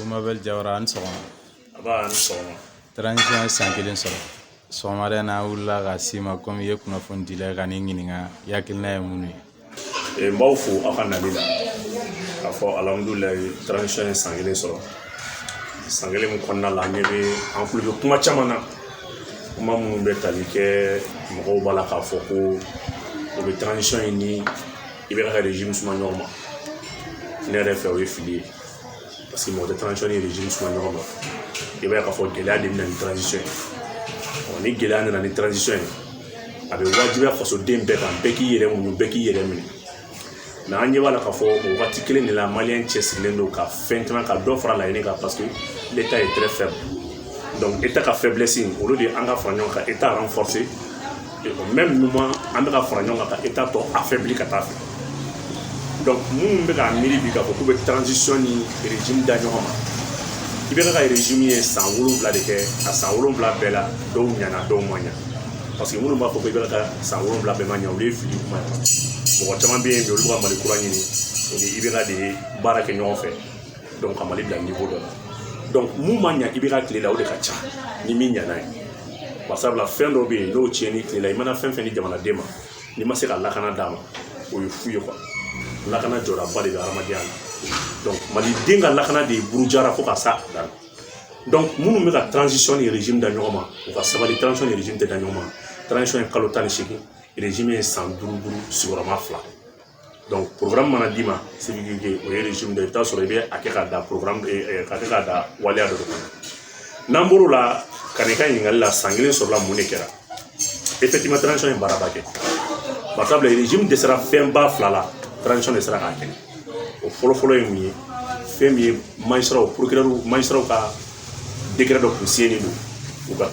Mabel Jawara a ni sɔgɔma nba a ni sɔgɔma transition ye san kelen sɔrɔ sɔgɔmada in na an wulila ka s'i ma komi i ye kunnafonidila ka n'i ɲininka i hakilina ye mun ye n b'aw fo aw ka nali la k'a fɔ alihamudulilayi transition ye san kelen sɔrɔ san kelen min kɔnɔna la an ɲɛ bɛ an kulo bɛ kuma caman na kuma minnu bɛ tali kɛ mɔgɔw b'a la k'a fɔ ko u bɛ transition in ni IBK ka régime suma ɲɔgɔn ma ne yɛrɛ fɛ o ye fili ye paseke mɔgɔ tɛ transition ni régime suma ɲɔgɔn ma i b'a ye k'a fɔ gɛlɛya de bɛ na ni transition ye ni gɛlɛya nana ni transition ye a bɛ wajibiya fasoden bɛɛ kan bɛɛ k'i yɛrɛ muɲu bɛɛ k'i yɛrɛ minɛ mɛ an ɲɛ b'a la k'a fɔ o wagati kelen de la maliyɛn cɛsirilen don ka fɛn caman ka dɔ fara laɲini kan parce que l'état est très faible donc état ka faiblesse olu de an ka fara ɲɔgɔn kan ka état renforcé mɛ ninnu ma an bɛ ka fara ɲɔgɔn kan ka état tɔ affaibli ka taa fɛ donc minnu bɛ k'a miiri bi k'a fɔ k'u bɛ transition ni régime da ɲɔgɔn ma IBK ka régime ye san wolonwula de kɛ a san wolonwula bɛɛ la dɔw ɲana dɔw ma ɲa parce que minnu b'a fɔ ko IBK ka san wolonwula bɛɛ ma ɲa olu ye fili kuma ye mɔgɔ caman bɛ yen bi olu ka mali kura ɲini u ni IBK de baara kɛ ɲɔgɔn fɛ donc ka mali bila niveau dɔ la donc min ma ɲa IBK tile la o de ka ca ni min ɲana ye barisabula fɛn dɔ bɛ yen n'o tiɲɛna i tile la i mana fɛn fɛn di jamanaden ma n'i ma se ka lakana d'a ma o ye fu ye quoi lakana jɔdaba de bɛ hadamadenya la donc maliden ka lakana de ye burujara fo ka s'a dan donc minnu bɛ ka transition ni régime da ɲɔgɔn ma u ka sabali transition ni régime tɛ da ɲɔgɔn ma transition ye kalo tan ni seegin régime ye san duuru duuru sigiyɔrɔma fila mana d'i ma se o ye de ye i bɛ t'a sɔrɔ i bɛ a kɛ ka da ka kɛ ka da waleya dɔ kɔnɔ n'an bɔr'o la ka n'i ka ɲininkali la san kelen sɔrɔla mun de kɛra ye baaraba kɛ barisabula izini de sera fɛnba fila la de sera k'a kɛ o fɔlɔfɔlɔ ye mun ye fɛn min ye magistrats magistrats ka dɔ kun siɲɛnen don u ka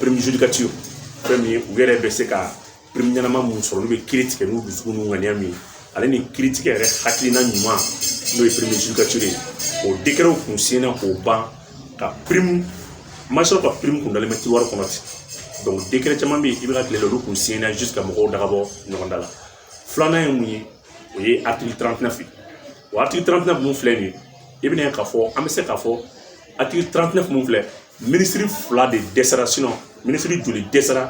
fɛn min ye u yɛrɛ bɛ se ka pirimu ɲɛnama min sɔrɔ olu bɛ kiri tigɛ n'u dusukun n'u ŋaniya min ye ale ni kiri tigɛ yɛrɛ hakilina ɲuman n'o ye pirimu judicature ye o dekɛrɛw kun siɲɛna ka ban nka pirimu ma sɔrɔ ka pirimu kun dalen bɛ tiroir kɔnɔ ten donc dekɛrɛ caman bɛ yen IBK tile la olu kun siɲɛna juste ka mɔgɔw dagabɔ ɲɔgɔn da la filanan ye mun ye o ye article 39 ye o article 39 min filɛ nin ye i bɛna ye k'a fɔ an bɛ se k'a fɔ article 39 min filɛ minisiri fila de dɛsɛra sinɔn minisiri joli dɛsɛra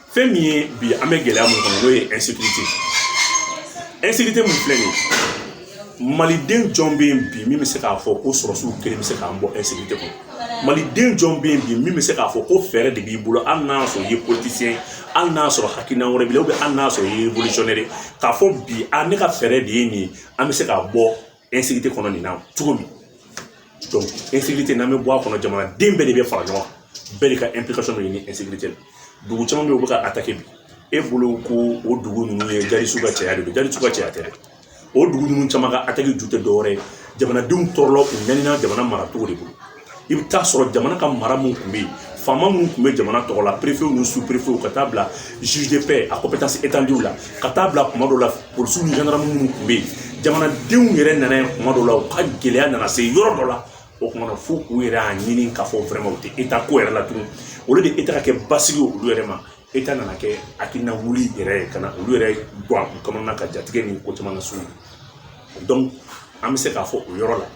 fɛn min ye bi an bɛ gɛlɛya min kɔnɔ n'o ye insécurité insécurité min filɛ nin ye maliden jɔn bɛ yen bi min bɛ se k'a fɔ ko sɔrɔsiw kelen bɛ se k'an bɔ insécurité kɔnɔ maliden jɔn bɛ yen bi min bɛ se k'a fɔ ko fɛɛrɛ de b'i bolo hali n'a sɔrɔ i ye politicien hali n'a sɔrɔ hakilina wɛrɛ b'i la hali n'a sɔrɔ i ye révolutionnaire k'a fɔ bi a ne ka fɛɛrɛ de ye nin ye an bɛ se ka bɔ insécurité kɔnɔ nin na cogo min donc insécurité n'an bɛ bɔ a kɔnɔ jamanaden bɛɛ de bɛ fara ɲɔgɔn kan bɛɛ de ka implication bɛ ɲini insécurité la dugu caman bɛ yen u bɛ ka attaquer bi e bolo ko o dugu ninnu ye djihadistes ka caya de don djihadistes ka caya tɛ dɛ o dugu ninnu caman ka attaque ju tɛ dɔwɛrɛ ye jamanadenw tɔɔrɔla u ɲanina jamana maracogo de bolo i bɛ taa sɔrɔ jamana ka mara min tun bɛ yen faama minnu tun bɛ jamana tɔgɔ la préfet ninnu sous-préfet ka taa bila zuzefɛ a ko bɛ taa se etandiw la ka taa bila kuma dɔw la polisiw ni gendarmes minnu tun bɛ yen jamanadenw yɛrɛ nana yen kuma dɔw la u ka gɛlɛya nana se yɔrɔ dɔ la o kuma na fo u yɛrɛ y'a ɲini k'a fɔ vraiment u tɛ État ko yɛrɛ la tugun olu de État ka kɛ basigi olu yɛrɛ ma État nana kɛ hakilina wuli yɛrɛ ye ka na olu yɛrɛ bɔ a kɔnɔna ka jatigɛ ni ko caman nana s'u ma an bɛ se k'a fɔ o yɔrɔ la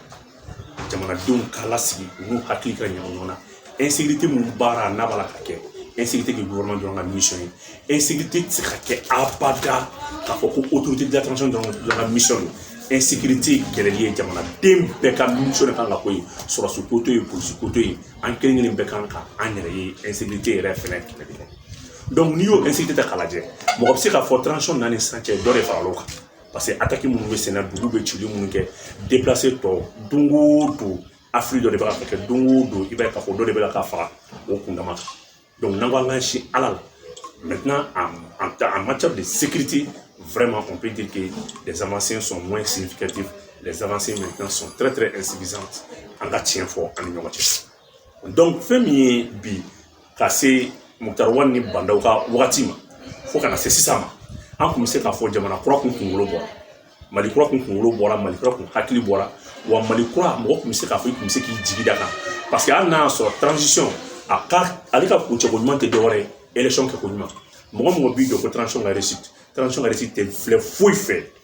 jamanadenw ka lasigi u n'u hakili ka ɲɛ ɲɔgɔn na insécurité min baara n'a b'a la ka kɛ insécurité k'i gouvernement dɔrɔn ka mission ye insécurité tɛ se ka kɛ abada k'a fɔ ko autorité de la transition dɔrɔn dɔrɔn ka mission don insécurité kɛlɛli ye jamanaden bɛɛ ka mission de kan ka k'o ye sɔrɔsi ko to yen polisi ko to yen an kelen kelen bɛɛ kan ka an yɛrɛ ye insécurité yɛrɛ fɛnɛ kɛlɛ de kɛ donc n'i y'o insécurité ta k'a lajɛ mɔgɔ bɛ se k'a fɔ transition nana ni sisan cɛ dɔ de faral'o kan parce que attaque minnu bɛ senna dugu bɛ wuli minnu kɛ déplacés tɔ don o don affaire dɔ de bɛ ka kɛ don o don i b'a ye k'a fɔ dɔ de bɛ ka faga o kundama kan donc n'an ko an k'an sin ala la maintenant en, en, en matière de sécurité vraiment on peut dire que les avancées sont moins significatives les avancées maintenant sont très très insuffisantes an ka tiɲɛ fɔ an ni ɲɔgɔn cɛ donc fɛn min ye bi ka se Moctar Ouane ni Bah N'Daw ka wagati ma fo ka na se sisan ma an kun bɛ se k'a fɔ jamana kura kun kunkolo bɔra mali kura kun kunkolo bɔra mali kura kun hakili bɔra wa mali kura mɔgɔ kun bɛ se k'a fɔ i kun bɛ se k'i jigi d'a kan parce que hali n'a y'a sɔrɔ transition a ka ale ka kuncɛko ɲuman tɛ dɔwɛrɛ ye élection kɛko ɲuman mɔgɔ mɔgɔ b'i jɔ ko transition ka réussite transition ka réussite tɛ filɛ foyi fɛ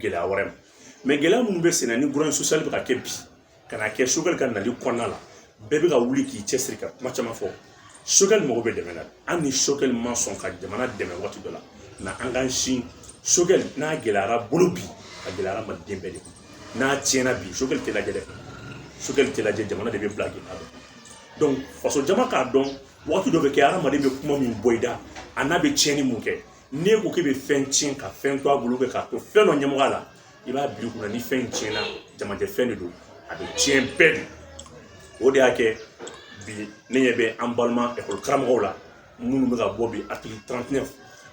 gɛlɛya wɛrɛ ma mɛ gɛlɛya minnu bɛ senna ni grogne sociale bɛ ka kɛ bi ka na kɛ Choguel ka nali kɔnɔna la bɛɛ bɛ ka wuli k'i cɛsiri ka kuma caman fɔ Choguel mago bɛ dɛmɛ na hali ni Choguel ma sɔn ka jamana dɛmɛ waati dɔ la na an k'an sin Choguel n'a gɛlɛyara bolo bi a gɛlɛyara maliden bɛɛ de kun n'a tiɲɛna bi Choguel tɛ lajɛ dɛ Choguel tɛ lajɛ jamana de bɛ bila k'i labɛn donc faso jama k'a dɔn waati dɔ bɛ kɛ hadamaden bɛ kuma min bɔ i da a n'a bɛ tiɲɛni min kɛ n'e ko k'e bɛ fɛn tiɲɛ ka fɛn to a bolo kɛ k'a to fɛn dɔ ɲɛmɔgɔya la i b'a bila kunna ni fɛn tiɲɛna jamajɛ fɛn de don a bɛ tiɲɛ bɛɛ de o de y'a kɛ bi ne ɲɛ bɛ an balima ekɔli karamɔgɔw la minnu bɛ ka bɔ bi article 39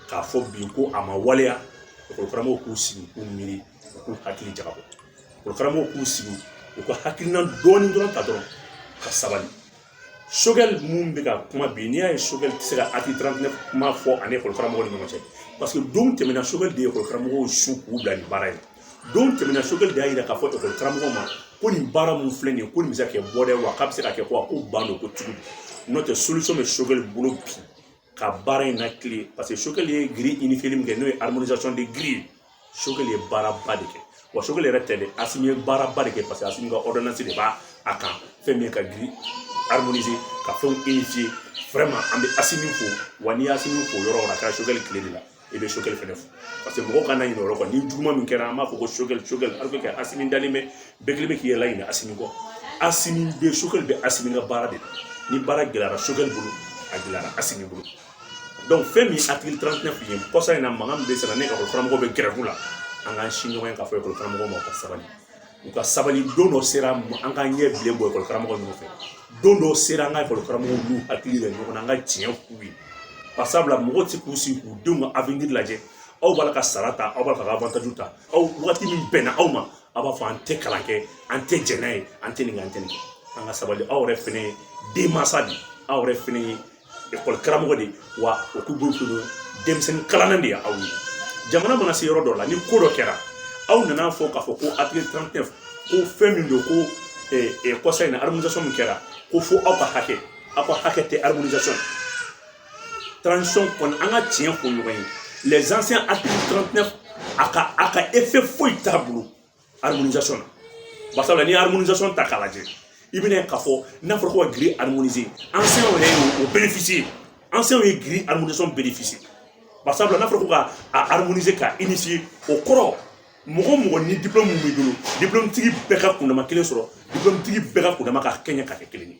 k'a fɔ bi ko a ma waleya ekɔli karamɔgɔw k'u sigi k'u miiri u k'u hakili jagabɔ ekɔli karamɔgɔw k'u sigi u ka hakilina dɔɔni dɔrɔn ta dɔrɔn ka sabali sogɛli min bɛ ka kuma bi n'i y'a ye sogɛli tɛ se ka article 39 kuma fɔ a ni ekɔli karamɔgɔ ni ɲɔgɔn cɛ paseke don tɛmɛna sogɛli de ye ekɔli karamɔgɔw su k'u bila nin baara in don tɛmɛna sogɛli de y'a yira k'a fɔ ekɔli karamɔgɔ ma ko nin baara mun filɛ nin ye ko nin bɛ se ka kɛ bɔda ye wa k'a bɛ se ka kɛ ko a ko ban don ko cogo di n'o tɛ bɛ sogɛli bolo bi ka baara in na kile paseke sokɛli ye giri unifierli min kɛ n'o ye harmonisation de giri ye sokɛli ye baaraba de kɛ wa sokɛli yɛrɛ tɛ dɛ asimi ye baaraba de kɛ paseke asimi ka ɔridonansi de b'a kan fɛn min ye ka giri harmoniser ka fɛnw unifier vraiment an bɛ asimi fo wa n'i ye asimi fo yɔrɔ o yɔrɔ a kɛra sokɛli tile de la i bɛ sokɛli fɛnɛ fo paseke mɔgɔw kana ɲinɛ o yɔrɔ kan ni juguman min kɛra an b'a fɔ ko sokɛli sokɛli a bɛ kɛ asimi dalen bɛ bɛɛ kelen bɛ k'i yɛrɛ ɲinɛ asimi kɔ asimi bɛ sokɛli bɛ asimi ka baara de la ni baara gɛlɛyara sokɛli bolo a gɛlɛyara asimi bolo donc fɛn min article 39 kun ye kɔsa in na mankan min bɛ senna ni ekɔli karamɔgɔ bɛ gɛrɛfu la an k'an si ɲɔgɔn ye k'a fɔ ekɔli karamɔgɔ ma ka sabali u ka sabali don dɔ sera an ka ɲɛ bilen bɔ ekɔli karamɔgɔ ninnu fɛ don dɔw sera an ka ekɔli karamɔgɔw n'u hakili yɛrɛ ɲɔgɔn na an ka tiɲɛ k'u ye barisabula mɔgɔw tɛ se k'u sigi k'u denw ka avenir lajɛ aw b'a la ka sara ta aw b'a la ka avantage ta aw waati min bɛnna aw ma aw b'a fɔ an tɛ kalan kɛ an tɛ jɛn n'a ye an tɛ nin kɛ an tɛ nin kɛ an ka sabali aw yɛrɛ fɛnɛ ye denmansa de ye aw yɛrɛ fɛnɛ ye ekɔli karamɔgɔ de wa o k'u bolo to denmisɛnnin kalanna de ye aw ye jamana mana se yɔrɔ dɔ la ni ko dɔ kɛra aw nana fɔ k'a fɔ ko article 39 ko fɛn min don ko kɔsa in na harmonisation min kɛra ko fo aw ka hakɛ aw ka hakɛ tɛ harmonisation transition kɔni an ka tiɲɛ fɔ ɲɔgɔn ye les enseignants article 39 a ka a ka effet foyi t'a bolo harmonisation na basabula n'i ye harmonisation ta k'a lajɛ i bɛn'a ye k'a fɔ n'a fɔra ko ka giri harmoniser enseignants yɛrɛ ye o bénéficier enseignants ye giri harmonisation bénéficier basabula n'a fɔra ko k'a harmoniser ka unifier o kɔrɔ mɔgɔ mɔgɔ ni diplôme min b'i bolo diplôme tigi bɛɛ ka kundama kelen sɔrɔ diplôme tigi bɛɛ ka kundama ka kɛɲɛ ka kɛ kelen ye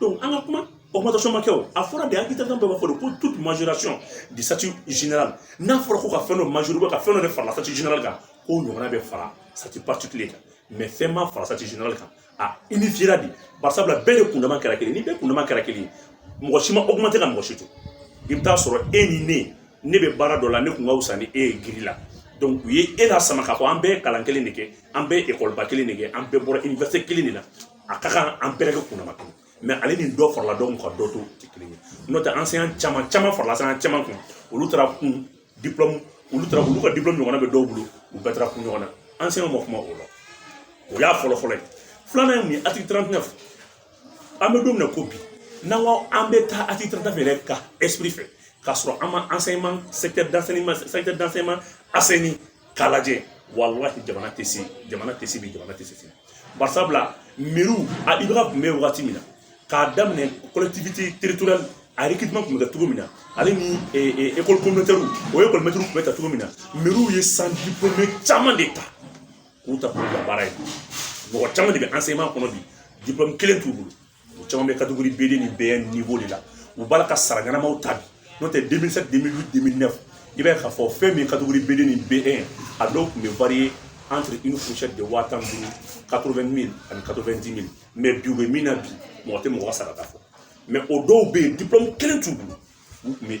donc an ka kuma augmentation ma kɛ o a fɔra de article 39 b'a fɔ de ko toute majoration de statut général n'a fɔra ko ka fɛn dɔ majori ka fɛn dɔ de fara statut général kan k'o ɲɔgɔnna bɛ fara statut particulier kan mais fɛn ma fara statut général kan a unifiera de barisabula bɛɛ de kundama kɛra kelen ni bɛɛ kundama kɛra kelen ye mɔgɔ si ma augmenter ka mɔgɔ si to i bɛ taa sɔrɔ e ni ne ne bɛ baara dɔ la ne tun ka wusa ni e ye giri la donc u ye e la sama k'a fɔ an bɛɛ ye kalan kelen de kɛ an bɛɛ ye ekɔliba kelen de kɛ an bɛɛ bɔra université kelen de la a ka kan an bɛɛ ka kunnama to mais hali ni dɔ farala dɔw ka dɔ to tɛ kelen ye n'o tɛ enseignant caman caman farala sɛgɛn caman kan olu taara kun diplɔmu olu taara olu ka diplɔmu ɲɔgɔnna bɛ dɔw bolo u bɛɛ taara kun ɲɔgɔn na enseignant ma kuma o la o y'a fɔlɔ fɔlɔ ye filanan ye mun ye article 39 an bɛ don min na ko bi n'an ko an bɛ taa article 39 yɛrɛ ka esprit fɛ k'a sɔrɔ an ma enseignement secteur d'enseignement secteur d'enseignement assaini k'a lajɛ walahi jamana tɛ se jamana tɛ se bi jamana tɛ se sini barisabula mɛriw a IBK kun bɛ wagati min na k'a daminɛ collectivité territoriale a recrutement tun bɛ kɛ cogo min na ale ni école communautaire o école maître tun bɛ ta cogo min na mɛriw ye sans diplômé caman de ta k'u ta k'u bila baara ye mɔgɔ caman de bɛ enseignement kɔnɔ bi diplôme kelen t'u bolo u caman bɛ kategori B2 ni B1 niveau de la u b'a la ka sara ɲɛnamaw ta bi n'o tɛ 2007 2008 2009 i b'a ye k'a fɔ fɛn min kategori B2 ni B1 a dɔw tun bɛ variye entre une fourchette de waa tan duuru 80 mille ani 90 mille mais bi u bɛ min na bi mɔgɔ tɛ mɔgɔ ka sarata fɔ mais o dɔw bɛ yen diplôme kelen t'u bolo u tun bɛ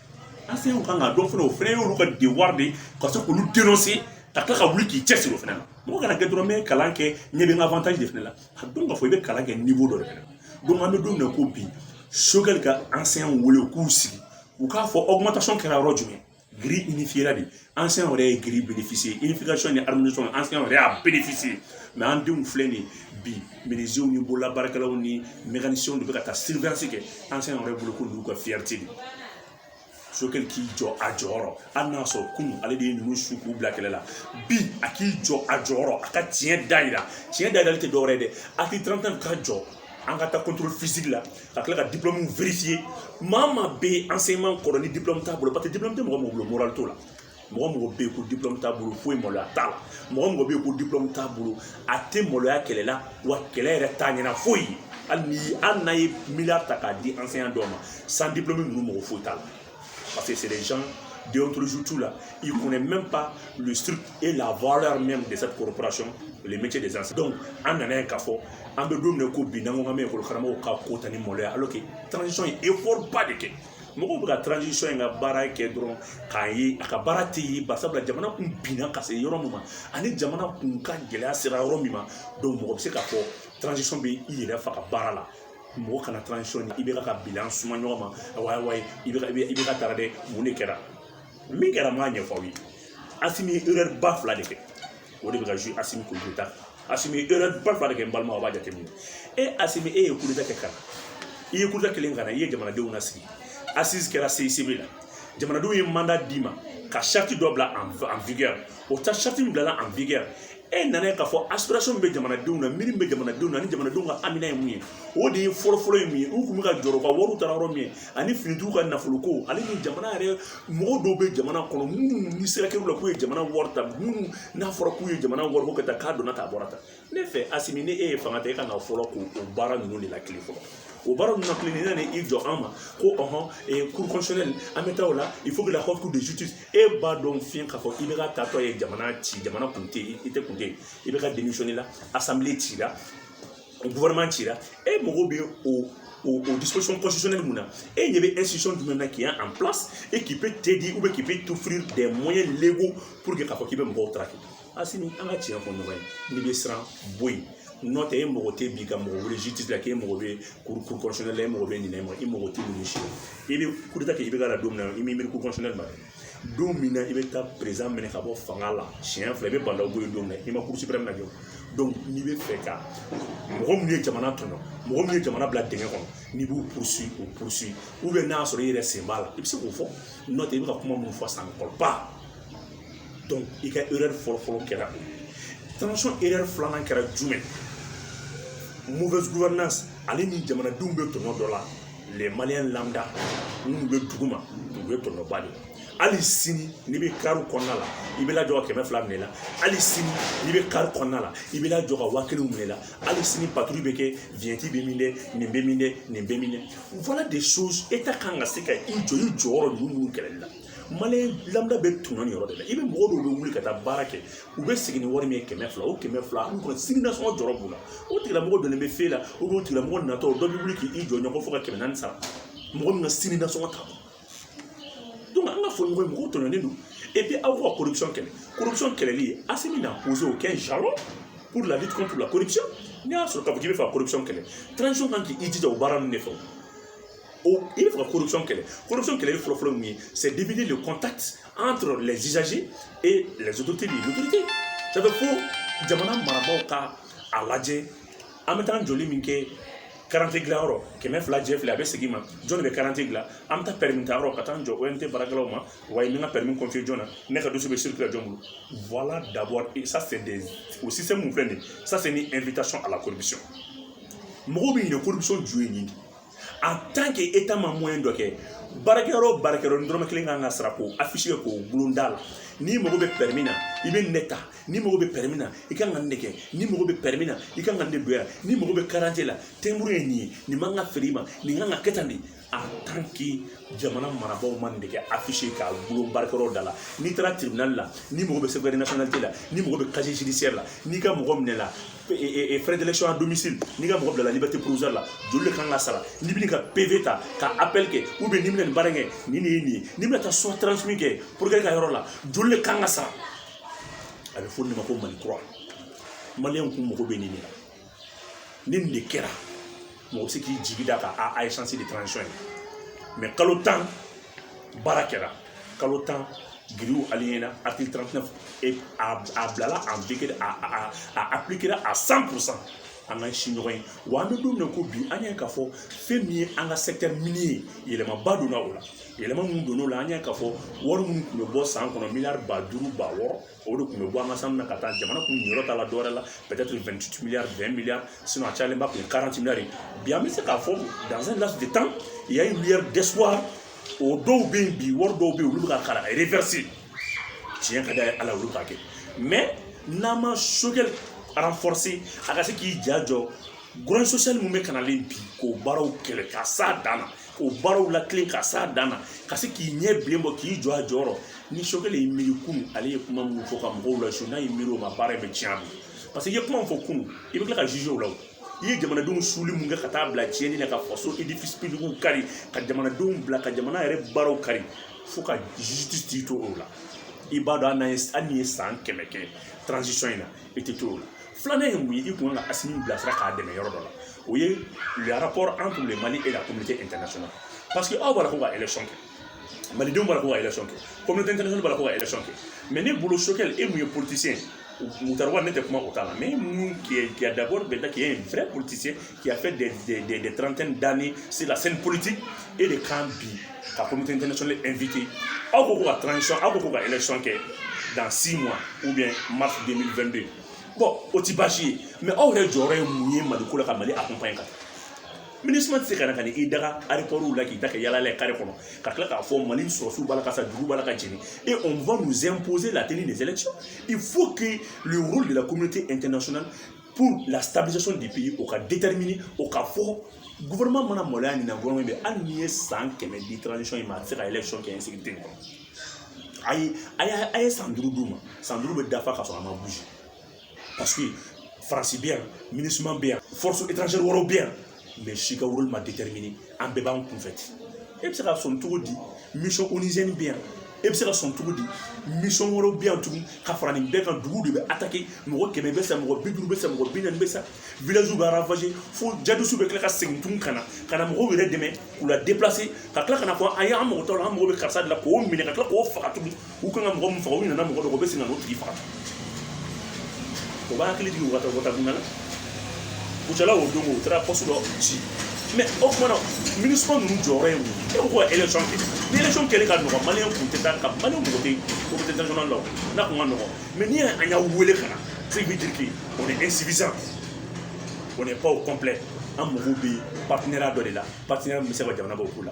enseignantw ka kan k'a dɔn fana o fana y'olu ka devoir de ye ka se k'olu denonse ka tila ka wuli k'i cɛ siri o fana na mɔgɔ kana kɛ dɔrɔn n bɛ kalan kɛ ɲɛ bɛ n ka avantage de fana la a dɔn k'a fɔ i bɛ kalan kɛ niveau dɔ de fana donc an bɛ don min na ko bi sogɛli ka enseignant wele u k'u sigi u k'a fɔ augmentation kɛra yɔrɔ jumɛn grille unifiera de enseignant yɛrɛ ye grille bénéficier unification ni harmonisation enseignant yɛrɛ y'a bénéficier mais an denw filɛ nin bi minizew ni bololabaarakɛlaw ni mekanisiyɛnw de bɛ ka taa surveillance kɛ enseignant yɛrɛ bolo k'olu ka fiyɛriti de sogɛli k'i jɔ a jɔyɔrɔ hali n'a sɔrɔ kunun ale de ye ninnu su k'u bila kɛlɛ la bi a k'i jɔ a jɔyɔrɔ a ka tiɲɛ da yira tiɲɛ da yirali tɛ dɔwɛrɛ ye dɛ a k'i tɛrɛmɛ ka jɔ an ka taa contrôle physique la ka tila ka diplɔmuw vérifier maa maa bɛ yen enseignement kɔrɔ ni diplɔmu t'a bolo paseke diplɔmu tɛ mɔgɔ mɔgɔ bolo morali t'o la mɔgɔ mɔgɔ bɛ yen ko diplɔmu t'a bolo foyi maloya t'a la mɔgɔ mɔgɔ bɛ yen ko diplɔmu t'a bolo a tɛ maloya kɛlɛ la wa kɛlɛ yɛrɛ t'a ɲɛ na foyi ye hali n'a ye miliyari ta k'a di enseignant dɔw ma sans diplɔmu ninnu mago foyi t'a la Parce que c'est des gens déontologie t'u la. Ils ne connaissent même pas le strict et la valeur même de cette corporation, le métier d'enseignant. Donc, n'an y'a ye k'a fɔ an bɛ don na ko bi n'an ko ngame ko kharama ko ka ko tani maloya alors que transition ye effort ba de kɛ mɔgɔw bɛ ka transition in ka baara kɛ dɔrɔn k'a ye a ka baara tɛ ye bari sabula jamana kun binna ka se yɔrɔ min ma ani jamana kun ka gɛlɛya sera yɔrɔ min ma donc mɔgɔ bɛ se k'a fɔ transition bɛ i yɛrɛ faga baara la mɔgɔ kana transition ni IBK bilan suma ɲɔgɔn ma awa awa i bɛ IBK taara dɛ mun de kɛra min kɛra n b'a ɲɛfɔ aw ye asimi ye erreur ba fila de kɛ o de bɛ ka jouer asimi contre asimi ye erreur ba fila de kɛ n balima aw b'a jateminɛ e asimi e ye coup d'État kɛ ka na i ye coup d'État kɛlen ka na i ye jamanadenw lasigi assise kɛra CICB la jamanadenw ye mandat d'i ma ka charte dɔ bila en vigueur o ta charte min bilala en vigueur e nana ye k'a fɔ aspiration bɛ jamanadenw na miiri bɛ jamanadenw na ni jamanadenw ka hamina ye mun ye o de ye fɔlɔfɔlɔ ye mun ye u tun bɛ ka jɔrɔ ka wariw taara yɔrɔ min ani finitigiw ka nafoloko ale ni jamana yɛrɛ mɔgɔ dɔw bɛ jamana kɔnɔ minnu ni siga kɛr'u la k'u ye jamana wari ta minnu n'a fɔra k'u ye jamana wari ko ka taa k'a donna k'a bɔra ta ne fɛ asimi ni e ye fanga ta e kan ka fɔlɔ k'o o baara ninnu de lawuli fɔlɔ o baara ninnu lawuli n'i nana i jɔ an ma ko ɔhɔn cour constitutionnelle an bɛ taa o la il faut que la haute cour de justice e b'a dɔn fiɲɛ k'a fɔ ibk taatɔ ye jamana ci jamana kun tɛ i tɛ kun tɛ ibk démissionner la assemblée ci la gouvernement ci la e mago bɛ o o o disposition constitutionnelle mun na e ɲɛ bɛ institution jumɛn na qui est en place et qui peut t'aider ou bien qui peut t'offrir des moyens légaux pour que k'a fɔ k'i bɛ mɔgɔw traquer asimi an ka tiɲɛ fɔ ɲɔgɔn ye n'i bɛ siran bɔ yen n'o tɛ e mago tɛ bi ka mɔgɔ wele ji tɛ k'e mago bɛ cour cour constitutionnelle la e mago bɛ ɲinɛ ma i mago tɛ ninnu si i bɛ coup d'état kɛ ibk don min na i m'i miiri cour constitutionnelle ma don min na i bɛ taa perezidan minɛ ka bɔ fanga la siɲɛ fila i bɛ ba ndaw bɔ yen don min na i ma cour suprême jɔ donc n'i bɛ fɛ ka mɔgɔ minnu ye jamana tɔɲɔ mɔgɔ minnu ye jamana bila dingɛ kɔnɔ n'i b'u poursuivre u poursuivre n'a y'a sɔrɔ i yɛrɛ sen b'a la i bɛ se k'o fɔ n'o tɛ i bɛ ka kuma minnu fɔ san kɔrɔba i ka erreur fɔlɔfɔlɔ kɛra erreur filanan kɛra jumɛn mauvaise gouvernance ale ni jamanadenw bɛ tɔɲɔ dɔ la les maliens lambda minnu bɛ dugu ma u bɛ tɔɲɔba de hali sini n'i bɛ kari kɔnɔna la i bɛ lajɔ ka kɛmɛ fila minɛ i la hali sini n'i bɛ kari kɔnɔna la i bɛ lajɔ ka waa kelen minɛ i la hali sini patrouille bɛ kɛ vignette bɛ min dɛ nin bɛ min dɛ nin bɛ min dɛ voilà des choses e tun ka kan ka se ka i jɔ i jɔyɔrɔ ninnu minnu kɛlɛli la maliens bɛ tun ni yɔrɔ de la i bɛ mɔgɔ dɔw bɛ wuli ka taa baara kɛ u bɛ segin ni wari min ye kɛmɛ fila o kɛmɛ fila an kɔni sini nasɔngɔ jɔrɔ b'u la o tigilamɔgɔ dɔnni bɛ fe la o don tigilamɔgɔ natɔ dɔ bɛ wuli k'i jɔ ɲɔgɔn fo ka kɛmɛ naani sara mɔgɔ min ka sini nasɔngɔ ta donc an k'a fɔ ɲɔgɔn mɔgɔw tɔɲɔnen don et puis aw ka corruption kɛlɛ corruption kɛlɛli asimi n'a posé aucun jalon pour la lutte contre la corruption n'i y'a sɔrɔ k'a fɔ k'i bɛ fɛ ka corruption kɛlɛ transition kan k'i jija o baara ninnu de fɛ o il faut ka corruption kɛlɛ corruption kɛlɛli fɔlɔ fɔlɔ mun ye c'est d'éviter le contact entre les usagers et les autorités de l'autorité ça fait fo jamana marabaaw ka a lajɛ an bɛ taa joli min kɛ karante dilanyɔrɔ kɛmɛ fila jɛ fila a bɛ segin ma jɔn de bɛ karante dilan an bɛ taa pɛrɛmi ta yɔrɔ ka taa n jɔ ont baarakɛlaw ma wa n ka pɛrɛmi confier jɔn na ne ka dossier bɛ circuler jɔn bolo voilà d'abord et ça c'est des o système min filɛ nin ye ça c'est une invitation à la corruption mɔgɔw bɛ ɲinɛ corruption ju ye nin de en tant que état ma moyen dɔ kɛ baarakɛyɔrɔ o baarakɛyɔrɔ ni dɔrɔmɛ kelen kan ka sara k'o affiche k'o gulon da la n'i mago bɛ pɛrɛmin na i bɛ nin de ta n'i mago bɛ pɛrɛmin na i kan ka nin de kɛ n'i mago bɛ pɛrɛmin na i kan ka nin de don yan n'i mago bɛ karadante la tɛmuru ye nin ye nin man ka feere i ma nin kan ka kɛ tan de en tant que jamana marabaaw ma nin de kɛ affiche k'a gulon baarakɛyɔrɔ da la n'i taara tribunal la n'i mago bɛ certificat nationalité la n'i mago bɛ casier judiciaire la n'i ka mɔgɔ minɛna frais d'élection à domicile n'i ka mɔgɔ bilala liberté provisoire la joli de kan ka sara n'i bɛna ka pv ta ka appel kɛ ou bien n'i bɛna nin baara kɛ nin de ye nin ye n'i bɛna taa soit transmis kɛ procureur ka yɔrɔ la joli de kan ka sara a bɛ fɔ nin ma ko mali kura maliyɛnw kun mago bɛ nin de la ni nin de kɛra mɔgɔ bɛ se k'i jigi da ka a a ye chance di transition in ma kalo tan baara kɛra kalo tan grille aliɲɛna article 39 et a a bilala en vigueur a a a appliquera à 100 pour cent an ka si ɲɔgɔn ye wa an bɛ don min na ko bi an y'a ye k'a fɔ fɛn min ye an ka secteur minier ye yɛlɛmaba donna o la yɛlɛma minnu donna o la an y'a ye k'a fɔ wari minnu tun bɛ bɔ san kɔnɔ miliyari ba duuru ba wɔɔrɔ o de tun bɛ bɔ an ka sanu na ka taa jamana kun yɔrɔ ta la dɔwɛrɛ la peut-être 28 milliards 20 milliards sinon a cayalenba tun ye 40 milliards ye bi an bɛ se k'a fɔ dans un laps de temps il y a une lueur d'espoir o dɔw bɛ yen bi wari dɔw bɛ yen olu bɛ ka kalan reverser tiɲɛ ka d'a ye ala olu k'a kɛ mais n'an ma choguel renforcer a ka se k'i ja jɔ grogne sociale min bɛ kanalen bi k'o baaraw kɛlɛ ka s'a dan na o baaraw la kelen ka s'a dan na ka se k'i ɲɛ bilen bɔ k'i jɔ a jɔyɔrɔ ni choguel y'i miiri kunu ale ye kuma minnu fɔ ka mɔgɔw lasu n'a y'i miiri o ma baara in bɛ tiɲɛ a bolo parce que i ye kuma min fɔ kunu i bɛ tila ka jugé o la o i ye jamanadenw suuli min kɛ ka taa bila tiɲɛni na ka faso édifices publics kari ka jamanadenw bila ka jamana yɛrɛ baaraw kari fo ka justice t'i to o la i b'a dɔn hali n'an ye hali n'i ye san kɛmɛ kɛ transition in na i tɛ t'o la filanan ye mun ye i kan ka assimi bilasira k'a dɛmɛ yɔrɔ dɔ la o ye rapport entre le mali et la communauté internationale parce que aw b'a la ko ka élection kɛ malidenw b'a la ko ka élection kɛ communauté internationale b'a la ko ka élection kɛ mais ne bolo choguel e min ye politicien moctar ouane tɛ kuma o t'a la mais min k'i ye d'abord i b'a dɔn k'i ye vrai politicien qui a fait des, des, des, des trentaines d'années sur la scène politique e de kan bi ka communauté internationale inviter aw ko ko ka transition aw ko ko ka élection kɛ dans six mois ou bien mars 2022 bon o tɛ baasi ye mais aw yɛrɛ jɔyɔrɔ ye mun ye mali ko la ka mali accompagner ka minusma tɛ se ka na ka na i daga aéroportw la k'i ta kɛ yaala ye kare kɔnɔ ka tila k'a fɔ mali sɔrɔdasiw b'a la ka sa dugu b'a la ka jeni et on va nous imposer la tenue des élections il faut que le rôle de la communauté internationale pour la stabilisation du pays o ka déterminer o ka fɔ gouvernement mana maloya nin na gouvernement bɛ hali n'i ye san kɛmɛ di transition in ma a tɛ se ka élection kɛ insécurité nin kɔnɔ a ye a ye a ye san duuru d'u ma san duuru bɛ dafa ka sɔrɔ a ma bouger parce que faransi bɛ yan minusma bɛ yan force étrangère wɛrɛw bɛ yan mais si ka wolo ma déterminé an bɛɛ b'an kunfɛ ten e bɛ se ka sɔn cogo di mission onusienne bɛ yan e bɛ se ka sɔn cogo di mission wɛrɛw bɛ yan tugun ka fara nin bɛɛ kan dugu de bɛ attaquer mɔgɔ kɛmɛ bɛ sa mɔgɔ bi duuru bɛ sa mɔgɔ bi naani bɛ sa village bɛ ravager fo djihadistes bɛ tila ka segin tugun ka na ka na mɔgɔw yɛrɛ dɛmɛ k'u la déplacer ka tila ka n'a fɔ aw ye an mago t'aw la an mago bɛ karisa de la k'o minɛ ka tila k'o faga tugun u kan ka mɔgɔ min faga u nana mɔgɔ dɔ kɔ u bɛ sin ka n'o tigi faga o b'a hakili jigin u ka taa wata dun na kucala o don o taara pɔsi dɔ ci mais o tuma na MINUSMA ninnu jɔyɔrɔ ye mun ye e ko ko ka élection kɛ ni élection kɛlen ka nɔgɔ maliyɛn kun tɛ taa ka maliyɛn mɔgɔ tɛ o bɛ international la o n'a kun ka nɔgɔ mais ni an y'a wele ka na ce qui veut dire que on est insuffisant on n'est pas au complet an mago bɛ partenariat dɔ de la partenariat min bɛ se ka jamana bɔ ko la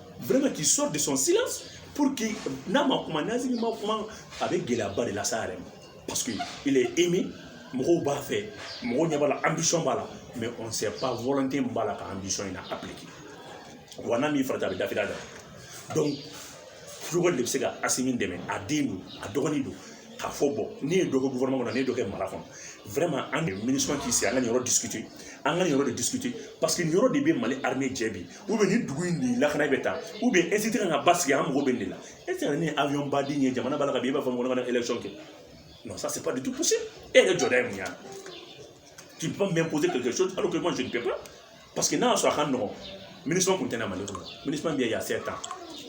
vraiment qu'il sorte de son silence pour que n'a ma kuma n'asimi ma kuma a bɛ gɛlɛyaba de lase a yɛrɛ ma parce que il est aimé mɔgɔw b'a fɛ mɔgɔw ɲɛ b'a la ambition b'a la mais on ne sait pas volonté min b'a la ka ambition in na appliquer wa n'a m'i farati a bɛ dafiri dɛ donc kulubali de bɛ se ka asimi dɛmɛ a den don a dɔgɔnin don k'a fɔ bon ne ye dɔ kɛ gouvernement kɔnɔ ne ye dɔ kɛ mara kɔnɔ vraiment an de ministre k'i sigi an ka nin yɔrɔ discuter an ka nin yɔrɔ de discuter parce que nin yɔrɔ de bɛ mali armée jɛ bi ni dugu in de lakana bɛ taa esi tɛ ka basigi an mago bɛ nin de la e tɛ ni awiyɔn baden ye jamana b'a la ka i b'a fɔ ko ne ka élection kɛ non ça c'est pas du tout possible e yɛrɛ jɔda ye mun ye tu peux pas m'imposer quelque chose alors que moi je ne peux pas parce que n'a y'a sɔrɔ a ka nɔgɔn MINUSMA tun tɛ na mali kɔnɔ MINUSMA bɛ yan sept ans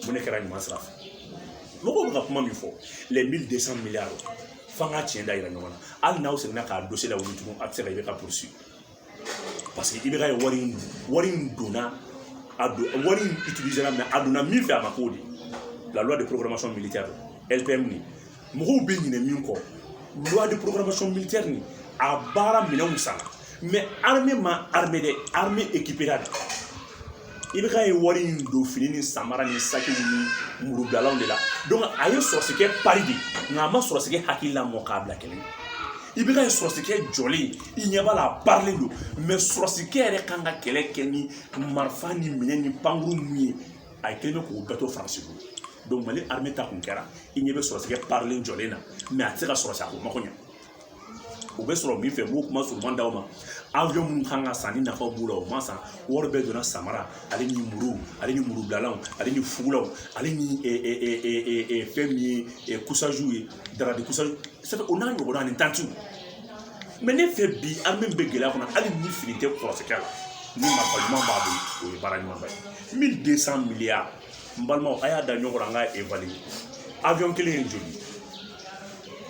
mun ne kɛra ɲuman sira fɛ mɔgɔw bɛ ka kuma min fɔ les 1200 milliards f'an ka tiɲɛ da yira ɲɔgɔn na hali n'aw seginna ka dossier lawuli tugun a tɛ se ka IBK poursuivre parce que IBK ye wari in wari in donna a don wari in utilisé la mais a donna min fɛ a ma k'o de la loi de programmation militaire LPM nin mɔgɔw bɛ ɲinɛ min kɔ loi de programmation militaire nin a baara minɛnw san mais armée ma armer dɛ armée équipéra dɛ IBK ye wari in don fini ni samara ni saki ni murudalaw de la a ye sɔrɔsikɛ pari de nka a ma sɔrɔsikɛ hakili lamɔ k'a bila kɛlɛ i bɛ k'a ye sɔrɔsikɛ jɔlen i ɲɛ b'a la a parilen don mais sɔrɔsikɛ yɛrɛ kan ka kɛlɛ kɛ ni marifa ni minɛn ni pankurun ninnu ye a ye kelen k'o bɛɛ to faransi bolo donc mali armée ta kun kɛra i ɲɛ bɛ sɔrɔsikɛ parilen jɔlen na mais a tɛ se ka sɔrɔsiya ko mako ɲɛ u bɛ sɔrɔ min fɛ n b'o kuma surunman d'aw ma avion minnu kan ka san ni nafa b'u la o ma san wari bɛɛ donna samara ale ni muru ale ni murubilalanw ale ni fugulaw ale ni fɛn min ye couchages ye draps de couchage sɛbɛn o n'a ɲɔgɔnna ani tantiw mais ne fɛ bi an min bɛ gɛlɛya kɔnɔ hali ni fini tɛ sɔrɔsikɛ la ni marifa ɲuman b'a bolo o ye baara ɲumanba ye mille deux cent milliards n balimaw a y'a da ɲɔgɔn kɔrɔ an ka évaluer avion kelen ye joli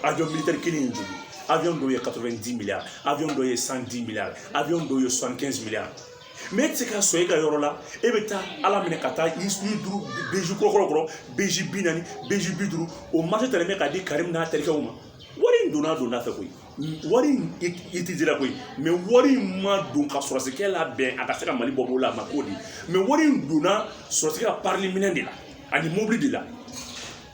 avion militaire kelen in joli avion dɔw ye 90 milliards avion dɔw ye 110 milliards avion dɔw ye 75 milliards mais e tɛ se ka san e ka yɔrɔ la e bɛ taa ala minɛ ka taa i duuru beji kɔrɔkɔrɔ kɔrɔ beji bi naani beji bi duuru o marché tɛmɛ bɛ ka di karimu n'a terikɛw ma wari in donna donda fɛ koyi wari in i ti dira koyi mais wari in ma don ka sɔrɔsikɛ la bɛn a ka se ka mali bɔ b'o la a ma k'o di mais wari in donna sɔrɔsikɛ ka parili minɛn de la ani mobili de la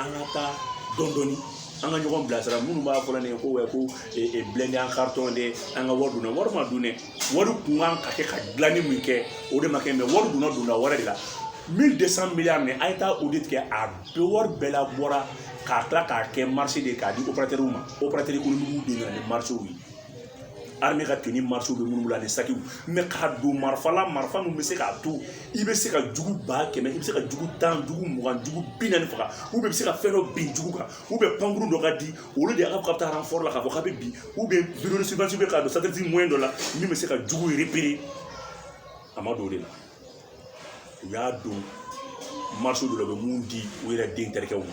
an ka taa dɔndɔni an ka ɲɔgɔn bilasira minnu b'a fɔ la ne ko wɛ ko blindé en carton de an ka wari dunna wari ma dun dɛ wari tun kan ka kɛ ka dilanni min kɛ o de ma kɛ mais wari donna donda wɛrɛ de la mille deux cent milliards nin a ye taa audit kɛ a bɛɛ wari bɛɛ labɔra k'a tila k'a kɛ marché de ye k'a di opérateurw ma opérateur économiquew de nana ni marchéw ye armée ka tenue marché bɛ minnu la ni sakiw mais k'a don marifa la marifa min bɛ se k'a to i bɛ se ka jugu ba kɛmɛ i bɛ se ka jugu tan jugu mugan jugu bi naani faga u bɛ se ka fɛn dɔ bin jugu kan u bɛ pankurun dɔ ka di olu de y'a ka taa ranfɔrɔ la k'a fɔ k'a bɛ bin u bɛ vidéo surveillance bɛ k'a don satellite moyen dɔ la min bɛ se ka jugu repérer a ma don o de la u y'a don marché dɔ la u bɛ min di u yɛrɛ den terikɛw ma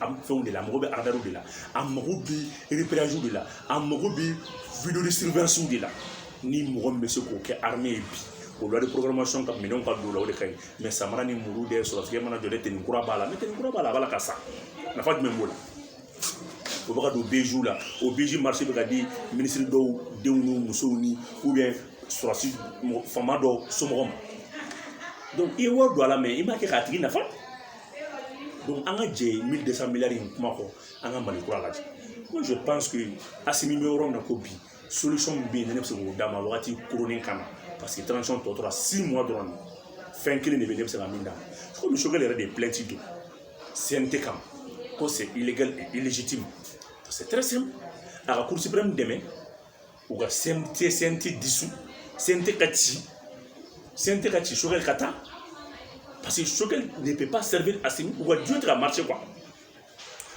an fɛnw de la a mago bɛ radarw de la a mago bɛ repéragew de la a mago bɛ vidéo de surveillancew de la ni mɔgɔ min bɛ se k'o kɛ armée ye bi o loi programmation ka minɛnw ka don la o de ka ɲi mais samara ni muru de sɔrɔsikɛ mana jɔ ni tenue kura b'a la ni tenue kura b'a la a b'a la ka sa nafa jumɛn b'o la o bɛ ka don beziw la o bezi marché bɛ ka di minisiri dɔw denw ni musow ni ou bien sɔrɔsi faama dɔ somɔgɔ ma donc i ye wari don a la mais i m'a kɛ k'a tigi nafa an ka jɛ mille deux cent milliards in kuma kɔ an ka mali kura lajɛ ko je pense que asimi bɛ yɔrɔ min na ko bi solution min bɛ yen ne bɛ se k'o d'a ma wagati kurunnin kama parce que transition tɔ tora six mois dɔrɔn de fɛn kelen de bɛ ne bɛ se ka min d'a ma komi Choguel yɛrɛ de ye plainte don cnt kama ko c'est illégal et illégitime c'est très simple a ka cour suprême dɛmɛ u ka CNT dissout CNT ka ci CNT ka ci Choguel ka taa parce que Choguel ne peut pas servir asimi u ka duo tɛ ka marcher quoi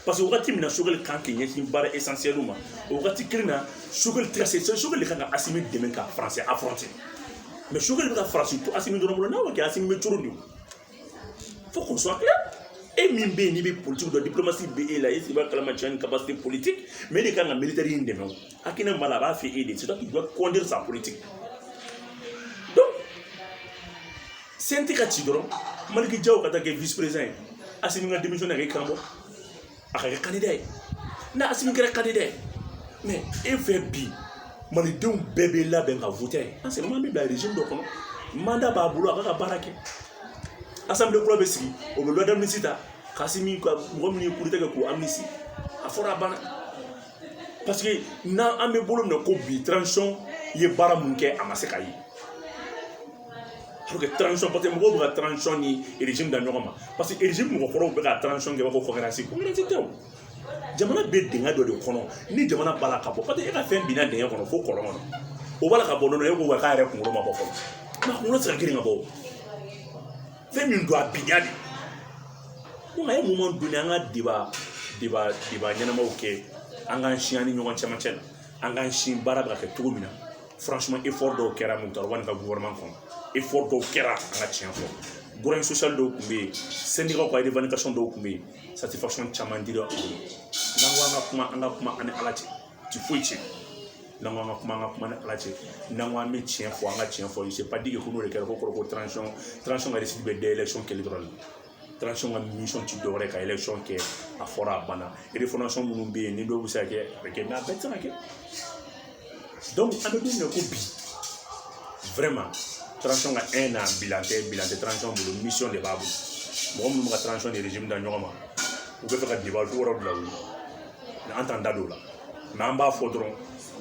parce que wagati min na Choguel kan k'i ɲɛsin baara essentiel ma o wagati kelen na Choguel tɛ ka se Choguel de kan ka asimi dɛmɛ ka faransi affronter mais Choguel bɛ ka faransi to asimi dɔrɔn bolo n'a ma kɛ asimi bɛ cogo di faut qu'on soit clair e min bɛ yen n'i bɛ politique dɔn diplomasi bɛ e la e sigi b'a kalama cɛ ni capacité politique mais e de kan ka militaire in dɛmɛ o hakilina b'a la a b'a fɛ e de c'est toi qui dois conduire sa politique donc CNT ka ci dɔrɔn Maliki Diaw ka taa kɛ vice président ye Asimi ka démission na kɛ karamɔgɔ a ka kɛ candidat ni asimi kɛra candidat mɛ e fɛ bi malidenw bɛɛ bɛ labɛn ka vote an sɛgɛn man bɛ bila regime dɔ kɔnɔ mandat b'a bolo a b'a ka baara kɛ assemblée kura bɛ sigi o bɛ loi d'amnistie ta k'asimi ka mɔgɔ min ye coup d'état kɛ k'o amnistie a fɔra a banna parce que n'an an bɛ bolo minɛ ko bi transition ye baara mun kɛ a ma se ka ye pour que transition parce que mɔgɔw bɛ ka transition ni régime da ɲɔgɔn ma parce que régime mɔgɔ kɔrɔw bɛ ka transition kɛ b'a fɔ concurrence concurrence tɛ o jamana bɛ dingɛ dɔ de kɔnɔ ni jamana b'a la ka bɔ parce que e ka fɛn binna dingɛ kɔnɔ fo kɔlɔn kɔnɔ o b'a la ka bɔ nɔnɔ e ko wa k'a yɛrɛ kunkolo ma bɔ fɔlɔ nka kunkolo tɛ se ka girin ka bɔ o fɛn min don a binna de ko nka e mun man donni an ka débat débat débat ɲɛnamaw kɛ an k'an sigi an ni ɲɔgɔn cɛmancɛ la an k'an sin baara bɛ ka kɛ cogo min na franchement effort dɔw kɛra moctar ouane ka gouvernement kɔnɔ effort dɔw kɛra an ka tiɲɛ fɔ grogne sociale dɔw tun bɛ yen syndicatw ka revendication dɔw tun bɛ yen satisfaction caman dira u ma n'an ko an ka kuma an ka kuma an ni ala cɛ ti foyi cɛ n'an ko an ka kuma an ka kuma ni ala cɛ n'an ko an bɛ tiɲɛ fɔ an ka tiɲɛ fɔ c'est pas dit que ko n'o de kɛra ko kɔrɔ ko transition transition ka de bɛ dayɛlɛ sɔn kelen dɔrɔn de transition ka mission ti dɔwɛrɛ ka election kɛ a fɔra a banna refondation minnu bɛ yen ni dɔw bɛ se ka kɛ a bɛ kɛ mɛ a bɛɛ tɛ se ka kɛ donc an bɛ don min na ko bi vraiment transition ka un an bilan tɛ bilan tɛ transition bolo mission de b'a bolo mɔgɔ minnu bɛ ka transition ni régime da ɲɔgɔn ma u bɛ fɛ ka debat ko wɛrɛ bila u ye an t'an da don o la mɛ an b'a fɔ dɔrɔn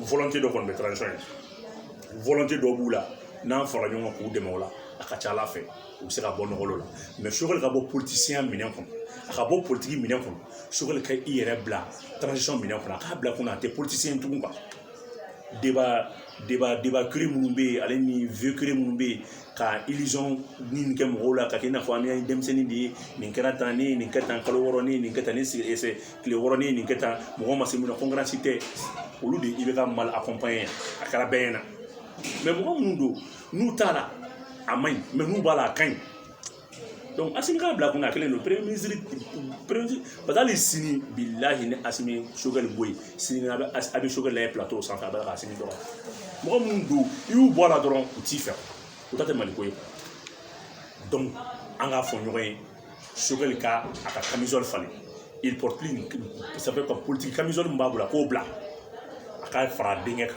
volonté dɔ kɔni bɛ transition ye volonté dɔ b'u la n'an fara ɲɔgɔn kan k'u dɛmɛ o la a ka ca a la fɛ u bɛ se ka bɔ nɔgɔ la mɛ sogɛli ka bɔ politicien minɛn kɔnɔ a ka bɔ politigi minɛn kɔnɔ sogɛli ka i yɛrɛ bila transition minɛn kɔnɔ a k'a bila kɔnɔ a tɛ politicien tugun kan débat débat débat kiri minnu bɛ yen ale ni vieux kiri minnu bɛ yen ka illusion ni kɛ mɔgɔw la ka kɛ i n'a fɔ an ye denmisɛnnin de ye nin kɛra tan ne ye nin kɛ tan kalo wɔɔrɔ ne ye nin kɛ tan ne sigi ɛsɛ tile wɔɔrɔ ne ye nin kɛ tan mɔgɔ ma se mun na concurrence tɛ olu de i bɛ ka mali accompagner a kɛra bɛɛ ɲɛna mɛ mɔgɔ minnu don n'u t'a la a man ɲi mɛ n'u b'a la a ka ɲi donc asimi k'a bila kun na a kɛlen don premier ministre premier ministre parce que hali sini bilahi ni asimi sogɛli bɔ yen sini a bɛ a bɛ sogɛli lajɛ plateau sanfɛ a bɛ ka asimi dɔgɔ mɔgɔ minnu don i y'u bɔ a la dɔrɔn u t'i fɛ o ta tɛ mali ko ye donc an k'a fɔ ɲɔgɔn ye sogɛli ka a ka camisole falen il porte plus ça fait ka politique camisole min b'a bolo a k'o bila a k'a fara a denkɛ kan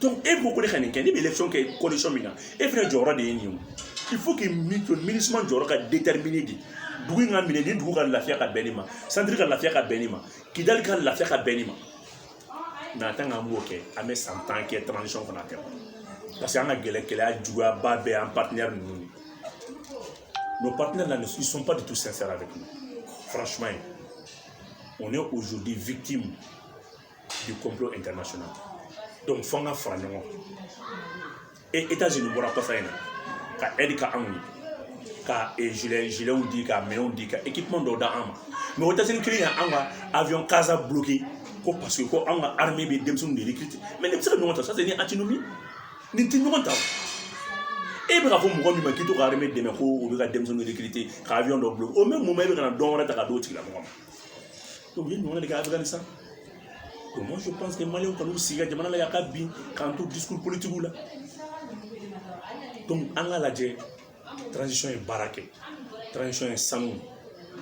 donc e ko ko ne ka nin kɛ ne bɛ élection kɛ condition min na e fana jɔyɔrɔ de ye nin ye o il faut que minusma jɔyɔrɔ ka déterminer de dugu in ka minɛ ni dugu ka lafiya ka bɛn nin ma centre ka lafiya ka bɛn nin ma kidali ka lafiya ka bɛn nin ma mais tant qu'an m'o kɛ an bɛ san tan kɛ transition fana kɛ parce que an ka gɛlɛ gɛlɛya juguyaba bɛɛ an partenaire ninnu de nos partenaires là ne ils sont pas du tout sincères avec nous franchement on est aujourd'hui victime du complot international donc fo an ka fara ɲɔgɔn kan e états unis bɔra kɔfɛ in na ka aide kɛ anw ye ka gilet gilets di ka minɛnw di ka équipement dɔw di an ma mais états unis kelen ye an ka avion casa bloqué ko parce que ko an ka armée bɛ denmisɛnninw de recruter mais nin bɛ se ka ɲɔgɔn ta ça c'est une antinomie nin tɛ ɲɔgɔn ta e bɛ ka fɔ mɔgɔ min ma k'i t'o ka armée dɛmɛ ko u bɛ ka denmisɛnninw recruter ka avion dɔ bloqué au même moment e bɛ ka na don wɛrɛ ta ka d'o tigilamɔgɔ ma y'o ɲɔgɔn de kɛ afganistan donc moi je pense que maliyɛnw kan k'u sigi ka jamana lajɛ a ka bin k'an to discours politikiw la donc an ka lajɛ transition ye baara kɛ transition ye sanu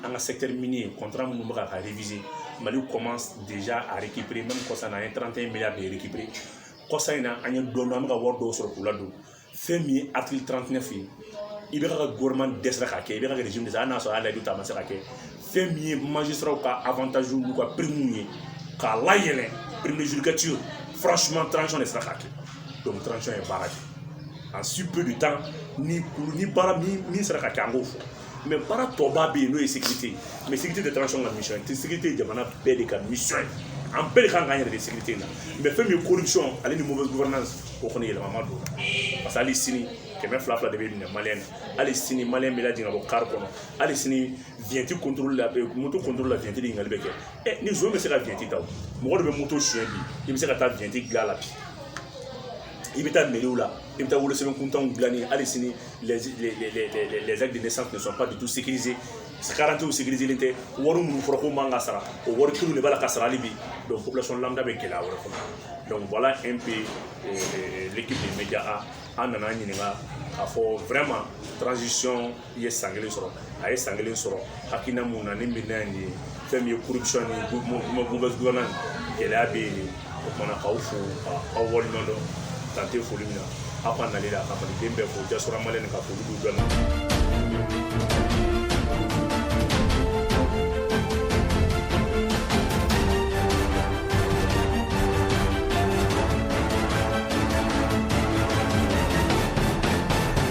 an ka secteur minier contrat minnu bɛ ka ka réviser mali commence déjà à récupérer même kɔsa na an ye 31 milliards de récupérer kɔsa in na an ye dɔɔni an bɛ ka wari dɔw sɔrɔ k'u ladon fɛn min ye article 39 ye ibk ka gouvernement dɛsɛra k'a kɛ ibk ka régime dɛsɛra hali n'a sɔrɔ a layidu ta a ma se k'a kɛ fɛn min ye magistrats ka avantage n'u ka primes ye k'a layɛlɛ prime de judicature franchement transition de sera k'a kɛ donc transition ye baara kɛ en si peu de temps nin kulu nin baara min min sera ka kɛ an k'o fɔ mɛ baara tɔba bɛ yen n'o ye sécurité ye mɛ sécurité tɛ transition ka mission ye sécurité ye jamana bɛɛ de ka mission ye an bɛɛ de kan k'an yɛrɛ di sécurité in na mɛ fɛn min ye corruption ale ni mauvaise gouvernance o kɔni yɛlɛma ma don parce que hali sini kɛmɛ fila fila de bɛ minɛ maliyɛn na hali sini maliyɛn bɛ lajigin ka bɔ kari kɔnɔ hali sini vignette contrôle la moto contrôle la vignette de ɲininkali bɛ kɛ ɛ ni zon bɛ se ka vignette ta o mɔgɔ de bɛ moto suɲɛ bi i bɛ se ka taa vignette dilan a la bi i bɛ taa meriw la i bɛ taa wolosɛbɛn kuntanw dilanni hali sini les, les, les, les, les, les actes de naissance ne sont pas du tout sécurisés karadantew sécuriselen tɛ wari minnu fɔra ko man kan ka sara o wari kelenw de b'a la ka sara hali bi donc population lambda bɛ gɛlɛya wɛrɛ kɔnɔ donc voilà un peu euh, euh, l'équipe de média a aw nana an ɲininka k'a fɔ vraiment transition ye san kelen sɔrɔ a ye san kelen sɔrɔ hakilina mun na ni bilan ye nin ye fɛn min ye corruption ni mauvaise gouvernance gɛlɛya bɛ yen o kama k'aw fo ka aw waleɲuman dɔn dan tɛ foli min na aw ka nali la ka maliden bɛɛ fo diaspora malienne ka foli b'u dɔn